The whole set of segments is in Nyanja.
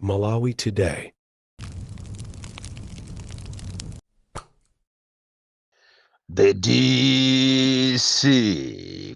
Malawi Today. The DC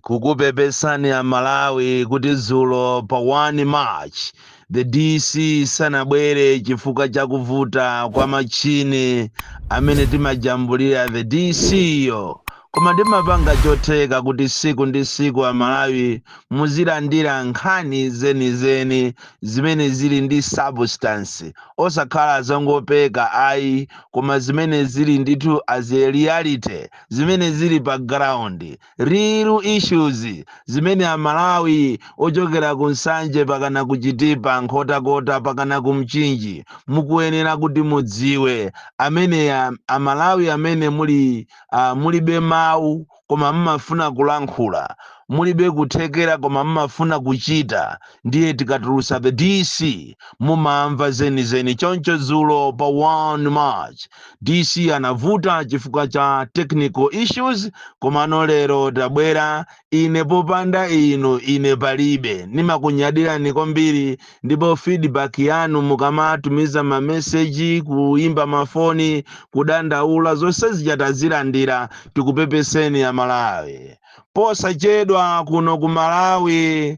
kukupepesani a Malawi kuti dzulo pa 1 March the DC sanabwere chifukwa cha kuvuta kwa machini amene timajambulira the DC yo Koma ndimapanga chotheka kuti siku ndi siku a Malawi muzilandira nkhani zenizeni zimene zili ndi substance osakhala zongopeka ayi koma zimene zili ndithu as a reality zimene zili pa ground, real issues zimene a Malawi ochokera ku Nsanje pakana ku Chitipa, Nkhotakota pakana ku Mchinji mukuyenera kuti mudziwe. Amene a Malawi amene muli. Ah, mulibe mawu, koma mmafuna kulankhula. Mulibe kuthekera, koma mmafuna kuchita. Ndiye tikatulusa The DC, mumamva zenizeni. Choncho dzulo pa 1 March, DC anavuta chifukwa cha technical issues, komano lero tabwera Ine popanda inu ine palibe. Ndimakunyadirani kwambiri ndipo feedback yanu mukamatumiza ma message, kuimba ma foni, kudandaula zonse zija tazilandira. Tikupepeseni a Malawi. Posachedwa kuno ku Malawi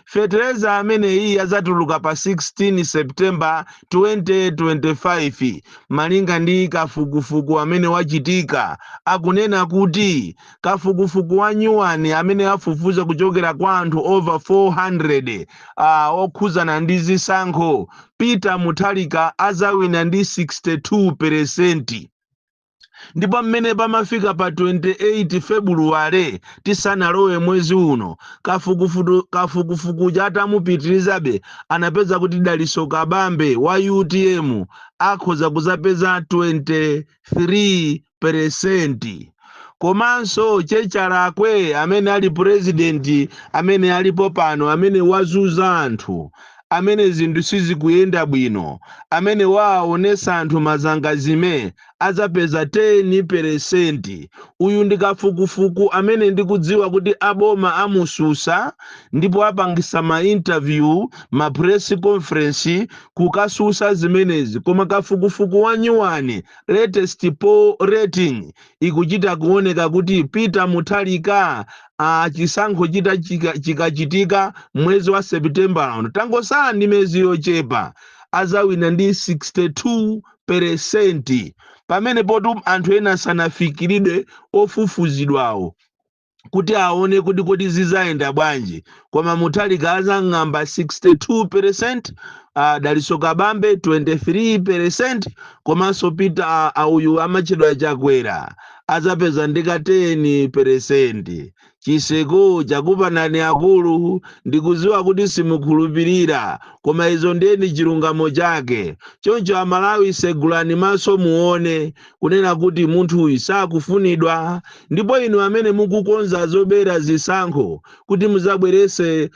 Feteleza ameneyi adzatuluka pa 16 September 2025 malinga ndi kafukufuku amene wachitika. Akunena kuti kafukufuku wa nyuwani amene afufuza kuchokera kwa anthu over 400 a okhudzana ndi zisankho, Peter Mutharika azawina ndi 62 peresenti. ndipo mmene pamafika pa 28 febuluwale tisanalowe mwezi uno kafukufukuja atamupitirizabe anapeza kuti daliso kabambe wa utm akhoza kuzapeza 23 peresenti komanso chechalakwe amene ali purezidenti amene alipo pano amene wazuza anthu amene zinthu sizikuyenda bwino amene waaonesa anthu mazangazime adzapeza 10 pelesenti uyu ndi kafukufuku amene ndikudziwa kuti a boma amususa ndipo apangisa ma interview ma press conference kukasusa zimenezi koma kafukufuku wanyuwani latest poll rating ikuchita kuoneka kuti Peter Mutharika chisankho chita- chikachitika mwezi wa September uno tangosala ndi mezi yochepa azawina ndi 62 peresenti pamenepotu anthu ena sanafikiridwe ofufuzidwawo kuti aone kuti kodi zizayenda bwanji koma Mutharika azang'amba 62 percent uh, Dalitso Kabambe 23 percent komanso Peter ah, ah, uyu amatchedwa Chakwera azapeza ndi ka 10 percent chiseku chakupanani akulu ndikuziwa kuti simukhulupirira koma izo ndiyeni chilungamo chake choncho Amalawi segulani maso muone kunena kuti munthuyi sakufunidwa ndipo inu amene mukukonza zobera zisankho kuti muzabwerese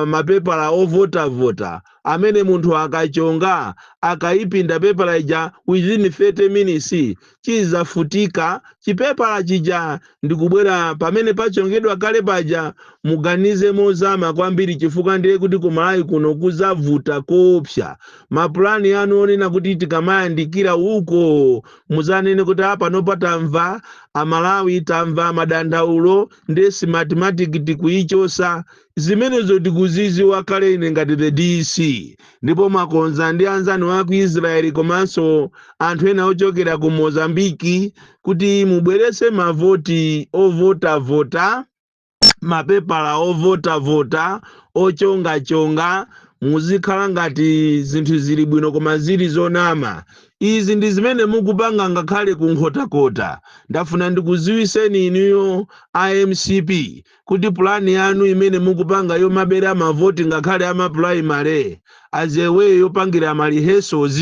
mapepala ovotavota amene munthu akachonga akayipinda pepala ija within 30 minutes chizafutika chipepala chija ndi kubwera pamene pachongedwa kale paja, muganize mozama kwambiri chifukwa ndiye kuti ku Malawi kuno kuzavuta koopsa. Mapulani anu onena kuti tikamayandikira uko muzanene kuti a panopa tamva Amalawi, tamva madandaulo ndiye Smartmatic tikuyichosa. Zimenezo tikuziziwa kale ine ngati the DC ndipo mwakonza ndi anzanu a ku Israel komanso anthu ena ochokera ku Mozambique kuti mubwerese mavoti ovotavota mapepala ovotavota ochongachonga muzikhala ngati zinthu zili bwino koma zili zonama izi ndi zimene mukupanga ngakhale ku Nkhotakota ndafuna ndikuziwiseni inuyo a MCP kuti plan yanu imene mukupanga yomabera ma vote ngakhale ama primary as a way yopangira ma rehearsals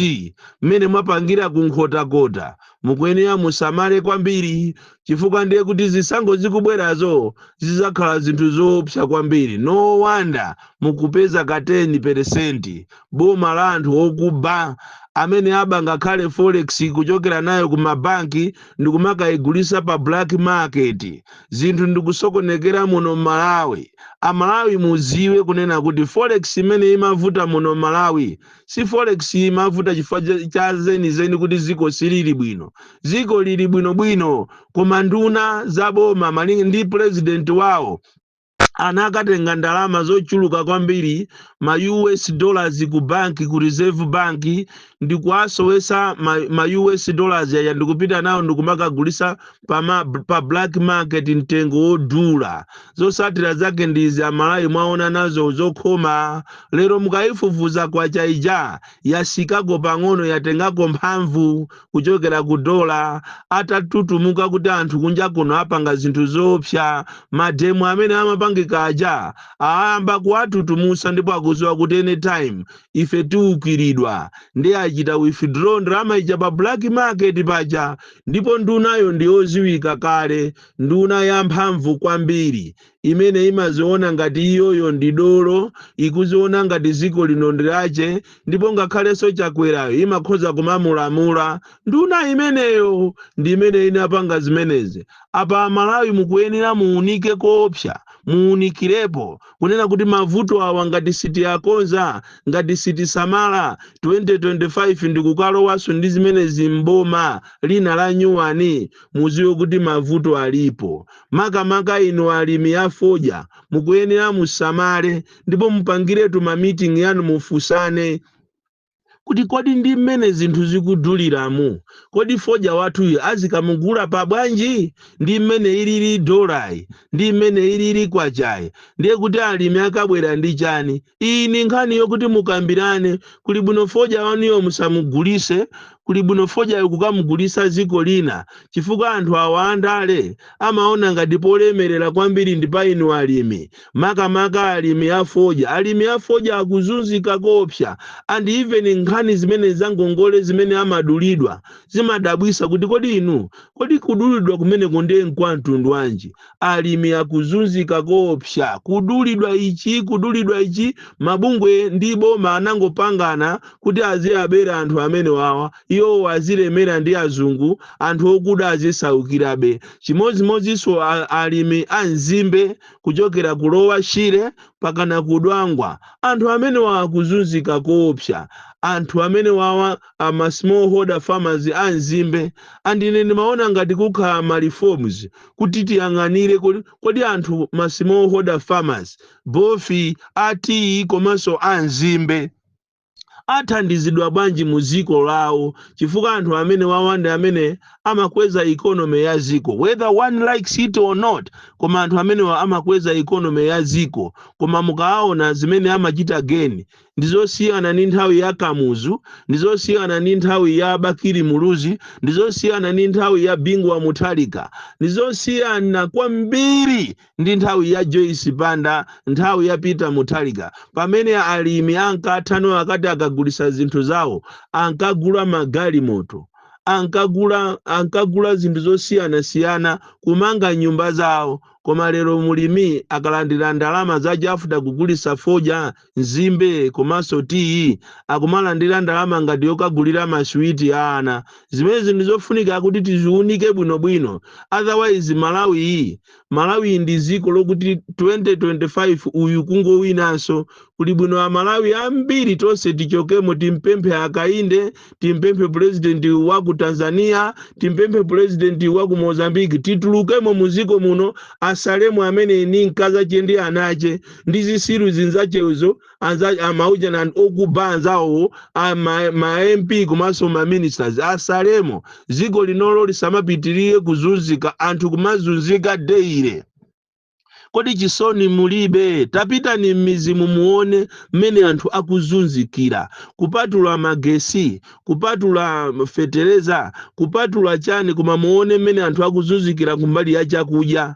mmene mwapangira ku Nkhotakota mukuyenera musamale kwambiri chifukwa ndiye kuti zisankho zikubwerazo zizakhala zinthu zoopsa kwambiri no wonder mukupeza ka 10 percent boma la anthu okuba amene aba ngakhale forex kuchokera nayo ku mabanki ndikumakayigulisa pa black market zinthu ndikusokonekera muno m'Malawi Amalawi muziwe kunena kuti forex imene imavuta muno m'Malawi si forex imavuta chifukwa cha- cha zenizeni kuti ziko silili bwino ziko lili bwinobwino koma nduna za boma malinga ndi president wawo anakatenga ndalama zochuluka kwambiri ma US dollars ku banki ku Reserve Bank ndikuwasowesa ma, ma US dollars awa ndikupita nawo ndikumakagulisa pa, ma, pa black market mtengo wodula zosatira zake ndi izi Amalawi mwaona nazo zokhoma lero mukayifufuza kwacha ija yasikako pang'ono yatengako mphamvu kuchokera ku dola atatutumuka kuti anthu kunja kuno apanga zinthu zoopsa mademo amene amapangika aja ayamba kuwatutumusa ndipo akuziwa kuti anytime ife tiukiridwa ndiye achita withdraw ndalama ija pa black market paja Ndipo ndunayo ndi yodziwika kale, nduna yamphamvu kwambiri, imene imadziona ngati iyoyo ndi dolo, ikudziona ngati dziko lino ndi lake, ndipo ngakhalenso Chakwerayo imakhoza kumamulamula. Nduna imeneyo ndi imene inapanga zimenezi. Apa Amalawi mukuyenera muunike koopsa, muunikirepo, kunena kuti mavuto awa ngati sitiakonza, ngati sitisamala, 2025 ndikukalowanso ndi zimenezi m'boma lina la nyuwani, mudziwe kuti mavuto alipo. Makamaka inu alimi a fodya mukuyenera musamale ndipo mupangiretu ma meeting anu mufunsane. kuti kodi ndi mmene zinthu zikuduliramu, kodi fodya wathuyu azikamugula pa bwanji? Ndi mmene ilili dolayi, ndi mmene ilili kwachayi, ndiye kuti alimi akabwera ndi chani? Iyi ndi nkhani yokuti mukambirane. Kuli bwino fodya wanuyo musamugulitse, kuli bwino fodyayu kukamugulitsa dziko lina chifukwa anthu awa andale amaona ngati polemerera kwambiri ndi pa inu alimi, makamaka alimi a fodya. Alimi a fodya akuzunzika koopsa and even nkhani zimene za ngongole zimene amadulidwa zimadabwitsa kuti kodi inu, kodi kudulidwa kumeneko ndiye nkwa mtundu wanji? alimi akuzunzika koopsa, kudulidwa ichi, kudulidwa ichi, mabungwe ndi boma anangopangana kuti aziabera anthu amenewawa, iwowo azilemera ndi azungu, anthu okuda azisaukirabe. Chimodzimodzinso a, alimi a nzimbe kuchokera ku Lower Shire pakana ku Dwangwa, anthu amenewa akuzunzika koopsa. Anthu amenewawa a ma small holder farmers a nzimbe, and ine ndimaona ngati kukhala ma reforms, kuti tiyang'anire kodi anthu ma smallholder farmers, both, a tiyi komanso a nzimbe athandizidwa bwanji mu dziko lawo chifukwa anthu amene wawa ndiye amene amakweza economy ya dziko whether one likes it or not koma anthu amenewa amakweza economy ya dziko koma mukaona zimene amachita geni ndi zosiyana ndi nthawi ya kamuzu ndi zosiyana ndi nthawi ya bakili muluzi ndi zosiyana ndi nthawi ya bingu wa muthalika ndi zosiyana kwambiri ndi nthawi ya joyce banda nthawi ya peter muthalika pamene alimi ankathano akati akagulitsa zinthu zawo ankagula magalimoto ankagula zinthu zosiyanasiyana kumanga nyumba zawo koma lero mulimi akalandira ndalama zache after kugulitsa fodya nzimbe komanso tiyi, akumalandira ndalama ngati yokagulira ma sweet a ana. Zimenezi ndizofunika kuti tiziunike bwino bwino otherwise Malawiyi Malawiyi ndi dziko lokuti 2025 uyu kungowinanso. Kuli bwino a Malawi ambiri tonse tichokemo timpemphe a Kainde. timpemphe pulezidenti wa ku tanzania timpemphe pulezidenti wa ku mozambique titulukemo mu dziko muno asalemo amene ni mkazache ndi anache ndi zisiru zinzachezo anza- amaujana and okuba anzawo a ma, ma mp komanso ma ministers asalemo dziko linolo lisamapitirire kuzunzika anthu kumazunzika deire Kodi chisoni mulibe? Tapitani mmizimu muone mmene anthu akuzunzikira. Kupatula magesi, kupatula fetereza, kupatula chani koma muone mmene anthu akuzunzikira kumbali ya chakudya.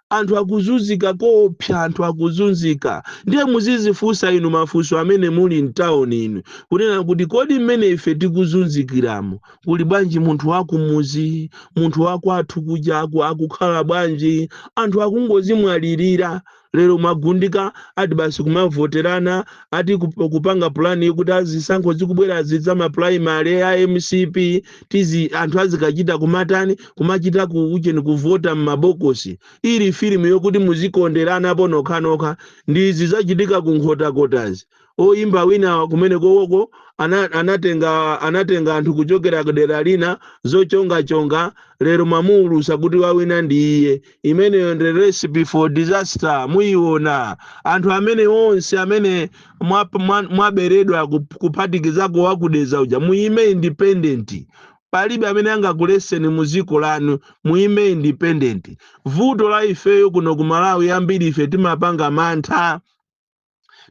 Anthu akuzunzika koopsa, anthu akuzunzika. Ndiye muzizifunsa inu mafunso amene muli mtown inu kunena kuti kodi mmene ife tikuzunzikiramu kuli bwanji munthu wakumuzi munthu wakwathu kuja aku- akukhala bwanji anthu akungozimwalirira lero mwagundika ati basi kumavoterana ati kup- kupanga pulani yokuti azisankho zikubwera zidza mapulaimale a mcp tizi anthu azikachita kumatani kumachita ku ucheni kuvota m'mabokosi ili filimu yokuti muzikonderana ponokhanokha ndi zizachitika ku nkhotakotazi oyimba wina kumene koko ana, anatenga anatenga anthu kuchokera kudera lina zochongachonga lero mwamuwulusa kuti wawina ndi iye imeneyo ndi recipe for disaster muyiona anthu amene onse amene mwap- mwa- mwaberedwa kup- kuphatikizako wakudeza uja muyime independent palibe amene angakuleseni mu dziko lanu muyime independent vuto la ifeyo kuno ku malawi ambiri ife timapanga mantha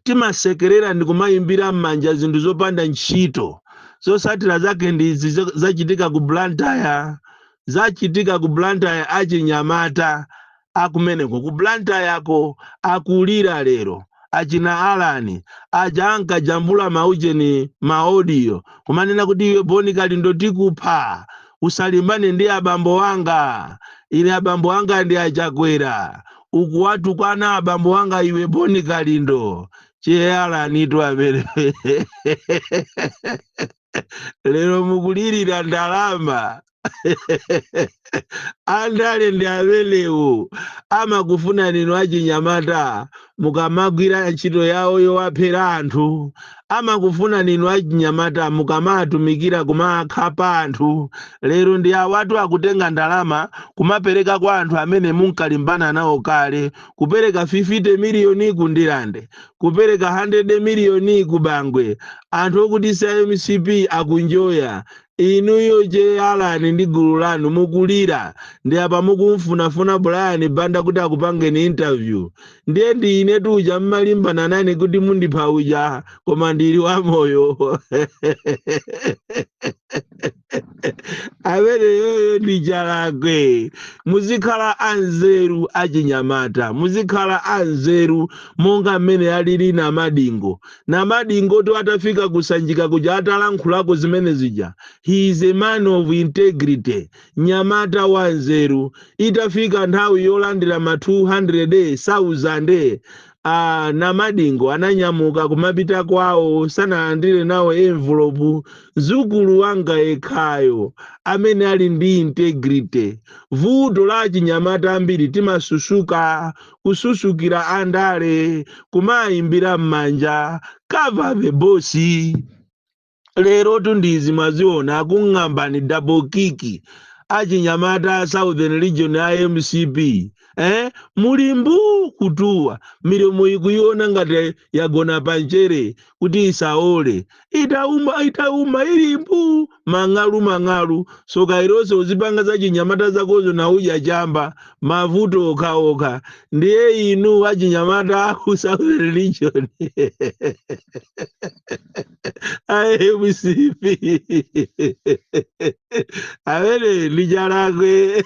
timasekerera ndi kumayimbira m'manja zinthu zopanda ntchito zosatira zake ndi izi zo- zachitika ku blantyre zachitika ku blantyre achinyamata akumeneko ku blantyre ako akulira lero achina alani aja ankajambula maujeni maodiyo kumanena kuti iwe boni kalindo tikupha usalimbane ndi abambo wanga ine abambo anga ndi achakwera ukuwatukwana abambo wanga iwe boni kalindo che alanitu amene lero mukulirira ndalama andale ndi amenewo amakufunani inu achinyamata mukamagwira ntchito yawo yowaphera anthu amakufunani inu achinyamata mukamaatumikira kumaakhapa anthu lero ndi awatu akutenga ndalama kumapereka kwa anthu amene munkalimbana nawo kale kupereka 50 miliyoni ku ndilande kupereka 100 miliyoni ku bangwe anthu okuti sa mcp akunjoya inuyo che alani ndi gulu lanu mukulira ndi apa mukumfunafuna brian banda kuti akupangeni interview ndiye ndi ine uja munkalimbana nane kuti mundipha uja koma ndili wamoyo ameneyoyo ndi Chakwera muzikhala anzeru achinyamata muzikhala anzeru monga mmene alili namadingo namadingo to atafika kusanjika kuja atalankhulako zimene zija he is a man of integrity nyamata wanzeru. Itafika nthawi yolandira ma 200,000, a Namadingo ananyamuka kumapita kwawo sanalandire nawo envelope. Mdzukulu wanga yekhayo amene ali ndi integrity. Vuto la achinyamata ambiri timasusuka, kususukira andale, kumaayimbira m'manja, cover the boss. lero tu ndi izi mwaziona akung'ambani double kick achinyamata a southern region a mcp eh? muli mbuu kutuwa milomo ikuoneka ngati yagona pamchere kuti isawole itauma itauma ili mbuu mang'alu mang'alu soka iloso uzipanga za chinyamata zakozo nauja chamba mavuto okhaokha ndiye inu achinyamata aku southern region a MCP awene Chakwera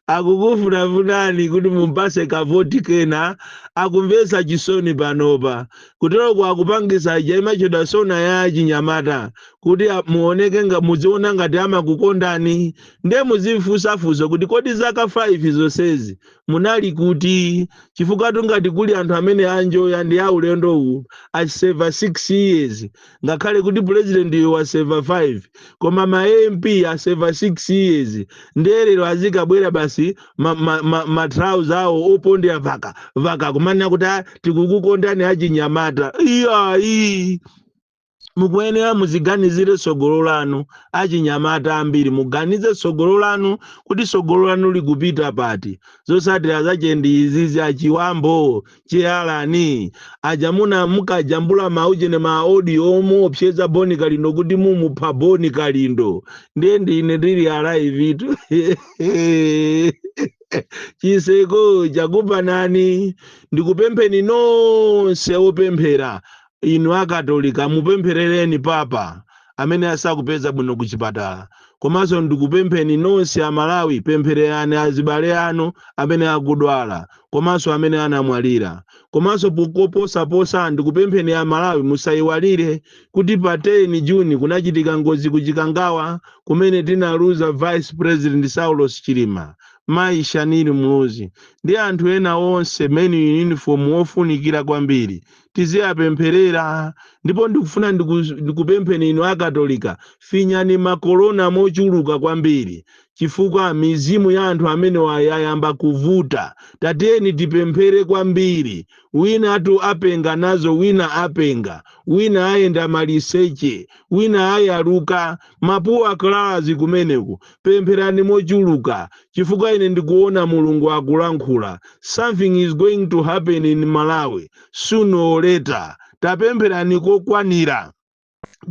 akukufunafunani kuti mumpatse kavoti kena akumvetsa chisoni panopa kuteroku akupangitsa ija imatchedwa sona ya achinyamata kuti a- muoneke nga muziona ngati amakukondani nde muzimfunsafunso kuti kodi zaka 5 zonsezi munali kuti chifukwatu ngati kuli anthu amene aenjoya ndiye ulendo uwu aseva 6 years ngakhale kuti pulezidentiyo waseva 5 koma ma MP aseva 6 years ndiye lero azikabwera basi matrauza ma, ma, ma trousers awo opondera vaka vaka kumanena kuti "Ah, tikukukondani achinyamata iyayi mukuyenera muziganizire tsogolo lanu achinyamata ambiri muganize tsogolo lanu kuti tsogolo lanu likupita pati zotsatira zache ndi izizi achiwambo Che Alani aja munamukajambula maujeni ma audio omuopseza boni kalindo kuti mumupha boni kalindo ndiye ndine ndili alivetu chiseko chakuphanani ndikupempheni nonse opemphera Inu a Katolika mupempherereni Papa amene asakupeza bwino ku chipatala. Komanso ndikupempheni nonse a Malawi pemphererani azibale anu amene akudwala komanso amene anamwalira. Komanso koposaposa ndikupempheni a Malawi musaiwalire kuti pa 10 June kunachitika ngozi ku Chikangawa kumene tinaluza Vice President Saulos Chilima, Mayi Shanil Muluzi ndi anthu ena onse men in uniform ofunikira kwambiri. tiziyapempherera ndipo ndikufuna ndiku- ndikupempheni inu akatolika finyani makolona mochuluka kwambiri chifukwa mizimu ya anthu amenewa yayamba kuvuta tatiyeni tipemphere kwambiri winatu apenga nazo wina apenga wina ayenda maliseche wina ayaluka Mapuwa class kumeneko pempherani mochuluka chifukwa ine ndikuona Mulungu akulankhula something is going to happen in Malawi sooner or later tapempherani kokwanira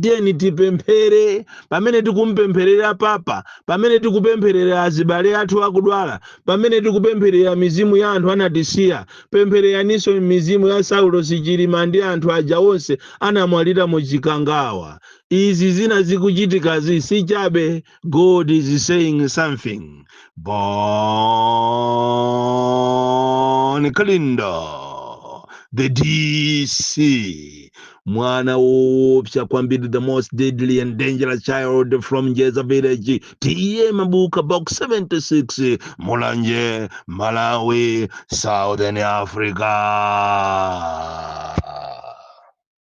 tiyeni tipemphere pamene tikumpempherera papa pamene tikupempherera azibale athu akudwala pamene tikupempherera mizimu ya anthu anatisiya pemphereraninso mizimu ya Saulos Chilima ndi anthu aja onse anamwalira mu chikangawa izi zina zikuchitikazi si chabe god is saying something Bon Kalindo the dc mwana woopsa kwambiri the most deadly and dangerous child from njeza village TA Mabuka box 76 mulanje malawi southern africa